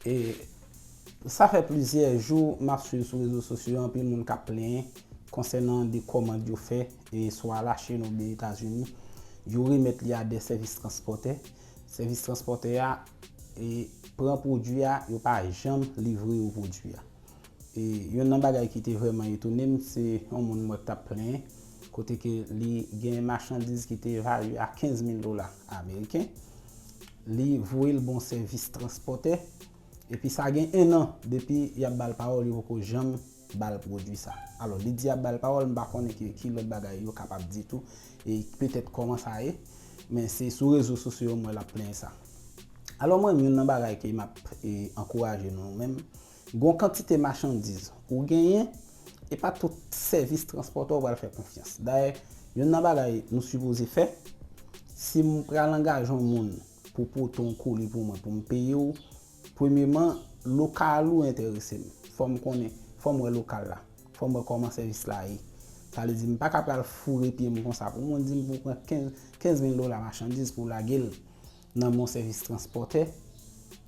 E sa fè plizyè jou map swiv sou rezo sosyo yo anpil moun kap plenyen konsènan de kòmand yo fè e swa Lachin ou byen Etazini yo remèt li a de sèvis transpòtè. Sèvis transpòtè a e pran pwodui a yo pa janm livre yo pwodui a. Youn nan bagay ki te vrèman etone m se yon moun m wè k t ap plenyen kote ke li gen machandiz ki te evalye a 15 mil dola ameriken, li voye l ba yon sèvis transpòtè epi sa gen ennan depi y ap ba l pawòl yo poko janm ba l pwodui sa. Alò li di y ap ba l pawòl, m pa konnen ke ki lòt bagay yo kapab di tou e petèt kòman sa ye, men se sou rezo sosyo yo m wè l ap plenyen sa. Alò mwen menm youn nan bagay ke m ap ankouraje nou menm, Gon kantite machandiz ou genyen, e pa tout sèvis transpòtè ou pral fè konfyans. Dayè, youn nan bagay nou sipoze fè, si m pral angaje yon moun pou pote yon koli pou mwen pou m peye w, premyeman, lokal ou enterese m. Fò m konnen, fò m wè lokal la, fò m wè kòman sèvis la ye. Sa vle di m pa ka pral foure pye m konsa pou moun di m pou pran 15 mil dola machandiz pou w lage l. nan men yon sèvis transpòtè,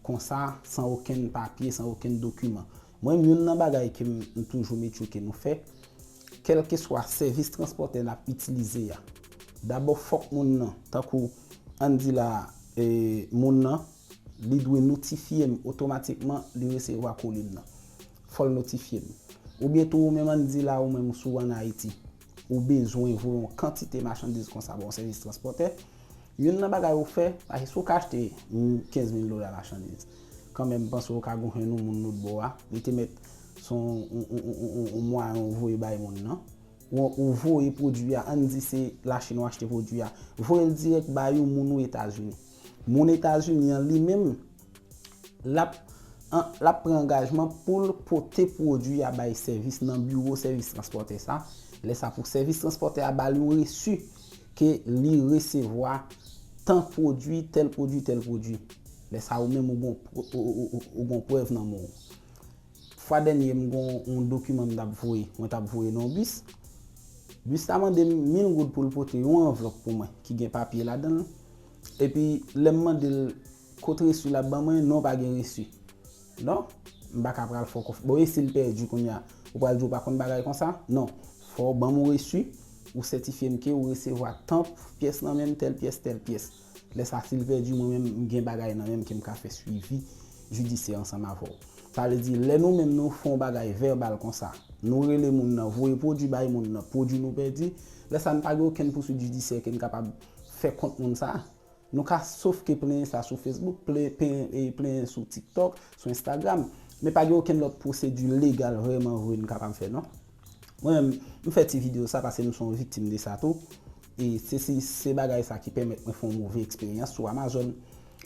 konsa, san okenn papye, san okenn dokiman. Mwen menm, youn nan bagay ke m toujou met yo ke nou fè, kèlkeswa sèvis transpòtè n ap itilize a, dabò fòk moun nan, tankou, ann di la a, moun nan, li dwe notifye m otomatikman li resevwa kolim nan. Fò l notifye m. Oubyen tou ou menm ann di la a ou menm sou an Ayiti, Ou bezwen voye yon kantite machandiz konsa ba yon sèvis transpòtè. Youn nan bagay ou fè, paske si ou ka achte 15 mil dola machandiz, kanmenm m panse ou ka gonfle yon moun lotbò a, li te mèt se yon mwayen ou voye bay moun nan. Ou voye pwodui a, ann di se Lachin ou achte pwodui a, voye l dirèk ba yon moun ou Etazini. Moun Etazini an li menm, l ap l ap pran angajman pou l pote pwodui a bay sèvis nan biwo sèvis transpòtè sa, lè sa pou sèvis transpòtè a ba l yon resi ke li resevwa tan pwodui, tèl pwodui, tèl pwodui. Lè sa ou menm ou gon prèv nan men w. Fwa dènye m gon yon dokiman m tap voye, mwen tap voye nan yon bis. Bis la mande m 1000 goud pou l pote yon anvlòp pou mwen ki gen papye ladan l. Epi lè m mande l kot resu l ap ban mwen, non pa gen resu. Non, m pa ka pral fè w konfyans. Bon e si l pèdi kounye a? Ou pral di w pa konn bagay konsa? Non, fò w ban m yon resu, ou sètifye m ke ou resevwa tan pyès nan men m, tèl pyès, tèl pyès. Lè sa sil pèdi mwen menm m gen bagay nan menm ke m ka fè swivi jidisyè ansanm avè w. Sa vle di lè nou menm nou fè yon bagay vèbal konsa, nou rele moun nan, voye pwodui bay moun nan, pwodui nou pèdi, lè sa n pa gen okenn pouswit jidisyè ke n kapab fè kont moun sa. Nou ka sof ke plenyen sa sou Facebook, plenyen sou TikTok, sou Instagram, men pa gen okenn lòt pwosedi legal vrèman vre n kapab fè non. Mwen menm, m fè ti video sa paske m se yon viktim de sa tou. E se si se bagay sa ki pèmèt mwen fè yon move eksperyans sou Amazon.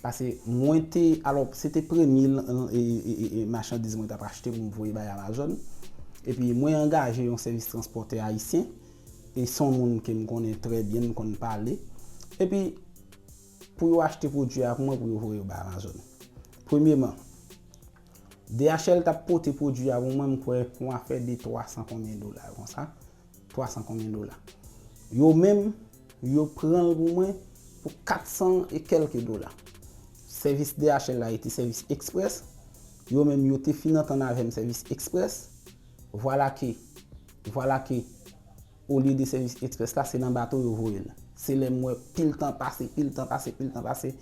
Pase mwen te, alò se te premye machandiz mwen t ap achte pou m voye bay Amazon. E pi mwen angaje yon sèvis transpòtè ayisyen. E se yon moun ke m konnen trè byen, m konn pale. E pi pou yo achte pwodui a pou mwen pou yo voye yo bay Amazon. Premyeman. DHL tap pote pwodwi a pou mwen m kwè pou afè de 300 konbyen dola konsa, 300 konbyen dola. Yo menm, yo pran l pou mwen pou 400 e kèlke dola. Sèvis DHL la rete sèvis eksprès, yo menm yo te fin antann avè m sèvis eksprès, vwala ke, vwala ke Olye de sèvis express la se nan bato yo voye l. Se lè m wè pil tan pase, pil tan pase, pil tan pase,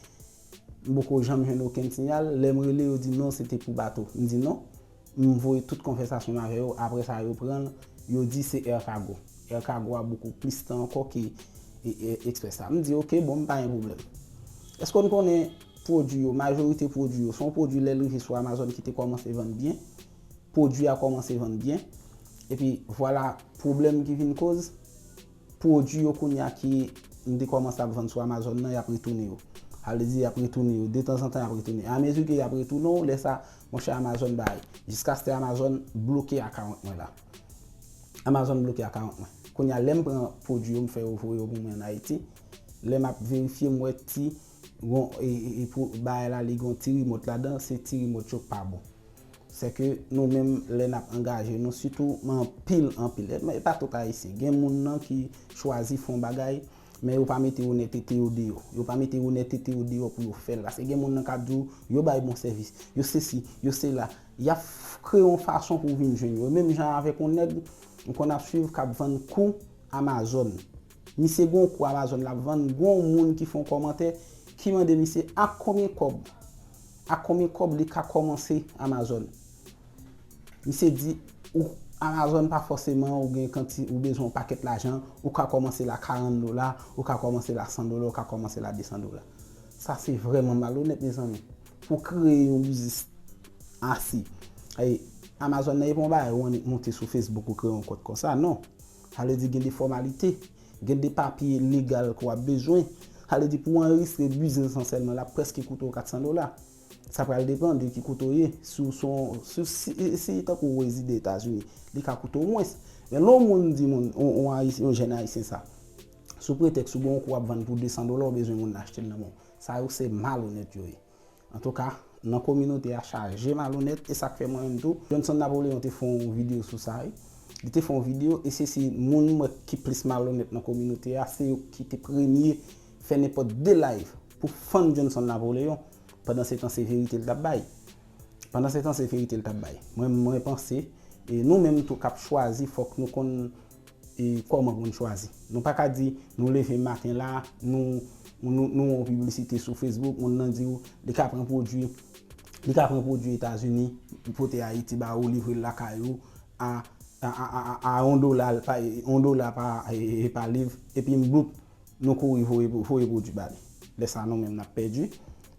m poko janm jwenn okenn siyal, lè m rele yo di non se te pou bato. M di non, m voye tout konvèsasyon m avè yo, aprè sa yo pran l, yo di se Air Cargo. Air Cargo a boukou plis tan ankò ke express la. M di ok bon m pa gen pwoblèm. Èske w konnen pwodui yo, majorite pwodui yo, se yon pwodui lè l rive sou Amazon ki te kòmanse vann byen, pwodwi a kòmanse vann byen, epi vwala pwoblèm ki vin koz, pwodwi yo kounye a ki m te kòmanse ap vann sou Amazon nan, y ap retounen yo. Sa vle di y ap retounen yo, detanzantan y ap retounen. E amezi ke y ap retounen w, lè sa, monchè Amazon bay, jiskaske Amazon bloke akawont mwen la. Amazon bloke akawont mwen. Kounye a lè m pran pwodwi yo m fè yo voye yo pou mwen an Ayiti, lè m ap verifye m wè ti. Gon e pou bagay la li gon ti remote ladan se ti remote yo k pa bon. Sè ke nou menm lè nap angaje nou sitou men anpil anpil e pa tout ayisyen gen moun nan ki chwazi fon bagay men yo pa mete onètete yo deyò. Yo pa mete onètete yo deyò pou yo fèl paske gen moun nan kap di w yo bay bon sèvis, yo sesi, yo sela. Yap kreye yon fason pou vin jwenn yo. Menm jan avèk yon nèg m konn ap swiv kap vann kou amazòn. Misye gon kou amazon lap vann gon moun ki fon kòmantè ki mande misye ak konbyen kòb ak konbyen kòb li ka kòmanse amazon misye di ou amazon pa fòseman ou gen kanti ou bezwen yon pakèt lajan ou ka kòmanse la 40 dola ou ka kòmanse la 100 dola ou ka kòmanse la 200 dola sa se vrèman malonèt mezanmi pou kreye yon biznis asi amazon nan epa yon bagay ou annik moute sou facebook ou kreye yon kont konsa non. Sa vle di gen de fòmalite, gen de papye legal ke w ap bezwen. Sa vle di pou w anrejistre biznis lan sèlman, l ap prèske koute w 400 dola. Sa pral depan de ki kote w ye. Si w se yon, si w si, si tankou w rezide Etazini, li ka koute w mwens. Men lè yon moun di moun, yon Ayisyen, yon jèn Ayisyen sa, sou pretèks ou gen yon kou w ap vann pou 200 dola, ou bezwen moun nan achte l nan men w. Sa yo se malonèt yo ye. Antouka, nan kominote a chaje malonèt e sak fè mwen menm tou, Johnson Napoléon te fè yon video sou sa wi. Li te fè yon video e se si moun mwen ki plis malonèt nan kominote a se yo ki te premye fè nenpòt 2 live pou fann Johnson Napoléon pandan se tan se verite li tap bay. Pandan se tan se verite li tap bay. Mwen mwen panse e nou menm tou kap chwazi fòk nou konn E kòman pou n chwazi? Nou pa ka di nou leve maten la, nou wè yon piblisite sou Facebook, moun nan di ou li ka pran pwodui, li ka pran pwodui Etazini, li pote Ayiti ba ou, livre l lakay ou a yon dola, yon dola pa liv, epi bloup, nou kouri voye pwodui ba li. Lè sa nou menm n ap pèdi,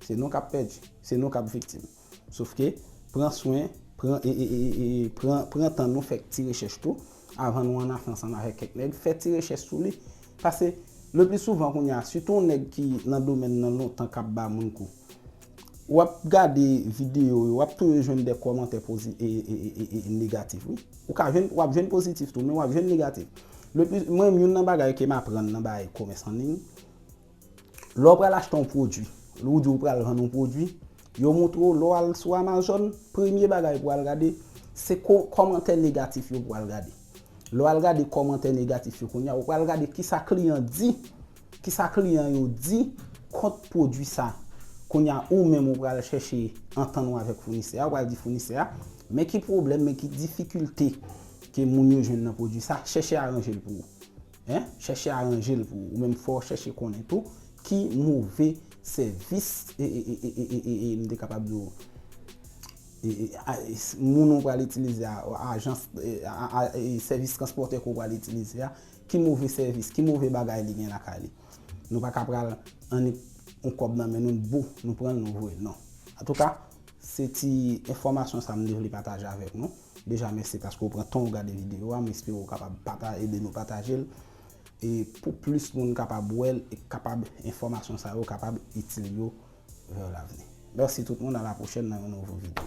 se nou k ap pèdi, se nou k ap viktim. Sofke, pran swen, pran e e e pran pran tan nou fè ti rechèch tou avan nou anafè ansanm avèk kèk nèg, fè ti rechèch sou li. Pase, le pli souvan kounye a, sitou yon nèg ki nan domèn nan lontan k ap ba moun kou, w ap gade videyo yo, w ap toujou jwenn de kòmantè pozi e e e e e negatif wi. Ou ka jwenn, w ap jwenn pozitif tou, men w ap jwenn negatif. Le pli, mwen menm youn nan bagay ke m aprann nan bagay komès an liy, Lè w pral achte yon pwodui, lè w di w pral vann yon pwodui, yo montre w lè w al sou Amazon, premye bagay pou w al gade, se kòmantè negatif yo pou w al gade. Lè w al gade kòmantè negatif yo kounye a, ou pral gade ki sa kliyan di, ki sa kliyan yo di kont pwodui sa. Kounye a, ou menm ou pral chèche antann ou avèk founisè a, ou pral di founisè a, men ki pwoblèm, men ki difikilte ke moun yo jwenn nan pwodui sa, chèche aranje l pou ou. Hein chèche aranjel pou ou menm fòw chèche konnen tou ki move sèvis ee m te kapab di w ee moun ou pral itilize a ajans ee sèvis transpòtè ke w pral itilize a ki move sèvis ki move bagay li gen lakay li nou pa ka pral annik yon kòb nan men nou bou nou pranl nou voyel non antouka se ti enfòmasyon sa m te vle pataje avèk nou. Deja mèsi paske ou pran tanw gade video a, m espere ou kapab pata ede nou patajel e pou plis moun kapab wèl e k kapab enfòmasyon sa yo kapab itil yo vè lavni. Mèsi tout moun a la pwochèn nan yon nouvo video.